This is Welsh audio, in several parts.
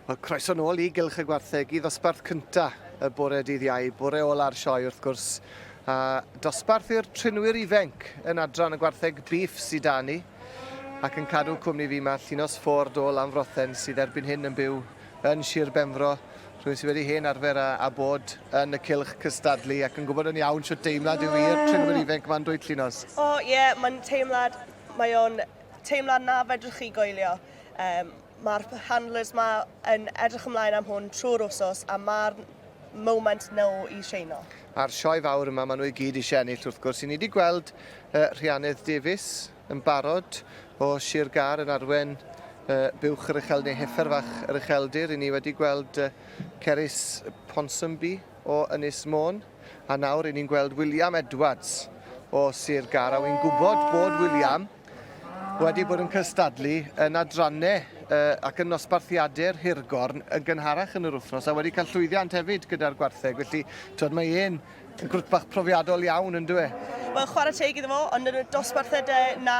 Wel, croeso nôl i Gylch y Gwartheg i ddosbarth cynta y bore dydd iau, bore ola'r sioe wrth gwrs. A dosbarth i'r trinwyr ifenc yn adran y gwartheg bif sydd da ni. Ac yn cadw cwmni fi mae Llinos Ford o Lanfrothen sydd erbyn hyn yn byw yn Sir Benfro, rhywun sydd wedi hen arfer a, a bod yn y cylch cystadlu ac yn gwybod yn iawn sut deimlad yw i'r trinwyr ifanc ma'n dwy llinos. O oh, ie, yeah, mae'n teimlad, mae o'n teimlad na fedrwch chi goelio. Um, mae'r handlers ma yn edrych ymlaen am hwn trwy'r wsos a mae'r moment nhw i sheino. A'r sioe fawr yma, maen nhw i gyd eisiau ennill wrth gwrs. I ni wedi gweld uh, Rhiannydd Davies yn barod o Sir Gâr yn arwen buwch yr uchel neu heffer fach yr ucheldir. Ry'n ni wedi gweld Cerys Ponsonby o Ynys Môn a nawr ry'n ni'n gweld William Edwards o Sir Gâr a wy'n gwybod bod William wedi bod yn cystadlu yn adrannau ac yn nosbarthiadau'r Hirgorn yn gynharach yn yr wythnos a wedi cael llwyddiant hefyd gyda'r gwartheg. Felly, twyd, mae e'n Grwt bach profiadol iawn, yn dwi e? Wel, chwarae teg iddo fo, ond yn y dosbarthau de, na.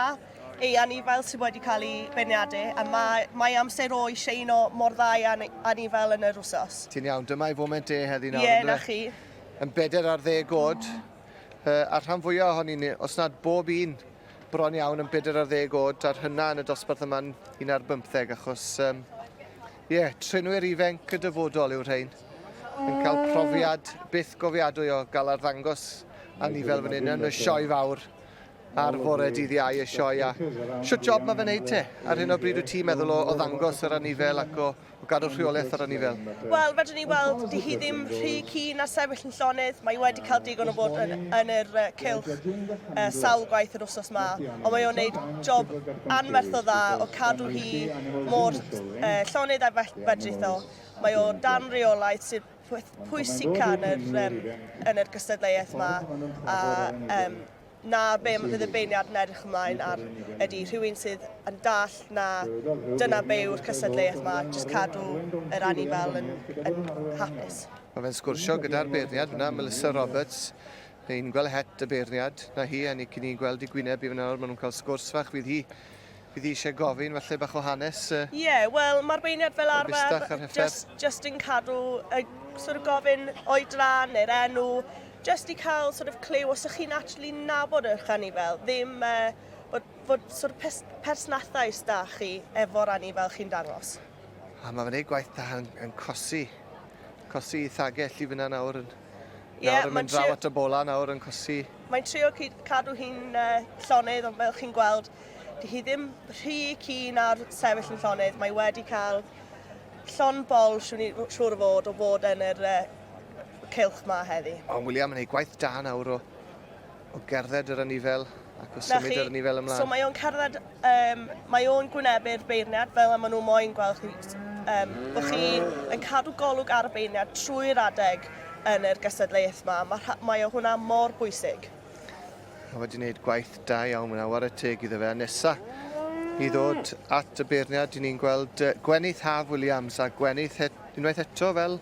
Ei anifail sydd wedi cael ei beirniadu, a mae, mae amser o'i sheino mor dda ei anifail yn yr wsos. Ti'n iawn, dyma ei foment e heddi nawr, yn dwi e? Ie, na chi. Yn beder ar ddeg oed, a'r rhan fwyaf ohoni ni, os nad bob un, bron iawn yn beder ar ddeg oed, a'r hynna yn y dosbarth yma'n un ar bymtheg, achos... Um, Ie, trenwyr ifenc y dyfodol yw'r rhain. Yn cael profiad byth gofiadwy o gael arddangos a ni fel fan hyn yn y sioe fawr ar fore dydd iau y sioe a siwt job mae fe wneud te. Ar hyn o bryd wyt ti'n meddwl o, o ddangos yr anifel ac o, o gadw rheolaeth yr anifel? Wel, fedrwn ni weld, di hi ddim rhy keen na sefyll yn llonydd. Mae wedi cael digon o fod yn, yn yr uh, cylch uh, sawl gwaith yr wsos ma, ond mae o'n wneud job anferth o dda o cadw hi mor llonydd a fedrithol. Mae o dan reolaeth sydd pwysica yn yr, um, yn yr gystadleuaeth yma, a um, na be mae fydd y beirniad yn edrych ymlaen ar ydy rhywun sydd yn dall na dyna be yw'r cystadleuaeth yma, jyst cadw yr anifel yn, yn hapus. Mae fe'n sgwrsio gyda'r beirniad fyna, Melissa Roberts, ni'n gweld het y beirniad na hi a ni cyn ni'n gweld i gwyneb i fyna nawr, maen nhw'n cael sgwrs fach fydd hi Bydd hi eisiau gofyn falle bach o hanes y... Ie, yeah, wel, mae'r beirniad fel arfer just, just yn cadw, uh, sort of gofyn oedran neu'r enw, just i cael sort of clyw os ych chi'n actually nabod eich anifel, ddim uh, bod, bod sort of pers persnathau da chi efo'r anifel chi'n dangos. A mae fyny gwaith da yn, yn cosi, cosi i thagell i fyna nawr yn, nawr yeah, yn mynd draw at y bola nawr yn cosi. Mae'n trio cadw hi'n uh, llonydd, ond fel chi'n gweld, Dyw hi ddim rhy keen ar sefyll yn llonydd, mae wedi cael llon bol siwn i'n siŵr o fod o fod yn yr uh, cylch ma heddi. Ond William yn ei gwaith da nawr o, o gerdded yr ynifel ac o symud yr ynifel ymlaen. So mae o'n cerdded, um, mae o'n gwynebu'r beirniad fel y maen nhw moyn gweld chi, um, bod chi yn cadw golwg ar y beirniad trwy'r adeg yn yr gystadleuaeth yma. Mae, mae o hwnna mor bwysig. Mae wedi gwneud gwaith da iawn fyna, war y teg iddo fe. A nesa i ddod at y beirniad, dyn ni'n gweld Gwenith Haf Williams a Gwenith et, unwaith eto fel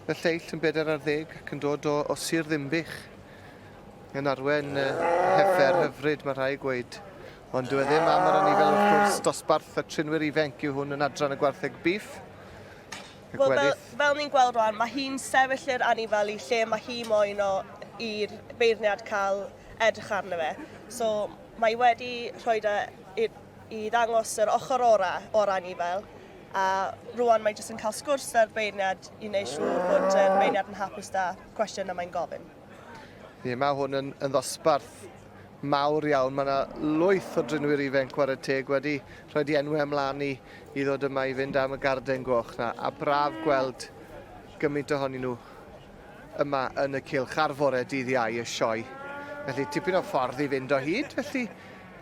y lleill yn bedair ar ddeg ac yn dod o, o Sir Ddimbych yn arwen uh, heffer hyfryd, mae rhai gweud. Ond dwi e ddim am yr anifel wrth gwrs, dosbarth y trinwyr ifenc yw hwn yn adran y gwartheg bif. Wel, fel, fel ni'n gweld rwan, mae hi'n sefyll i'r anifalu lle mae hi moyn o i'r beirniad cael edrych arno fe. So, mae wedi rhoi da i, i ddangos yr ochr ora o'r anifel, a rwan mae jyst yn cael sgwrs da'r beirniad i wneud siŵr bod y beirniad yn hapus da cwestiwn y mae'n gofyn. Ie, mae hwn yn, yn ddosbarth mawr iawn. Mae 'na lwyth o drinwyr ifenc chwarae teg wedi rhoid i enwe ymlan i i ddod yma i fynd am y garden goch 'na a braf gweld gymint ohonyn nhw yma yn y cylch ar fore dydd Iau y sioe. Felly tipyn o ffordd i fynd o hyd felly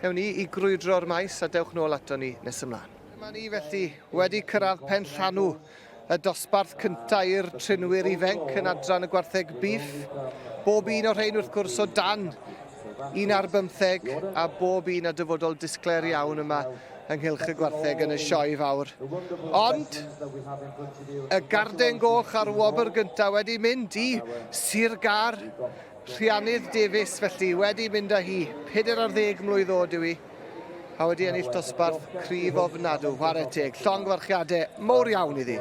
ewn ni i grwydro'r maes a dewch nôl ato ni nes ymlaen. Dyma ni felly wedi cyrraedd Penllanw y dosbarth cyntaf i'r trinwyr ifenc yn adran y gwartheg bîff. Bob un o'r rhain wrth gwrs o dan un ar bymtheg a bob un a dyfodol disglair iawn yma ynghylch y gwartheg yn y sioe fawr. Ond y garden goch a'r wobr gyntaf wedi mynd i Sir Gar Rhianydd Davies, felly, wedi mynd â hi, pedair ar ddeg mlwydd oed yw hi, a wedi ennill dosbarth cryf ofnadw, whare teg, llongyfarchiadau mowr iawn iddi.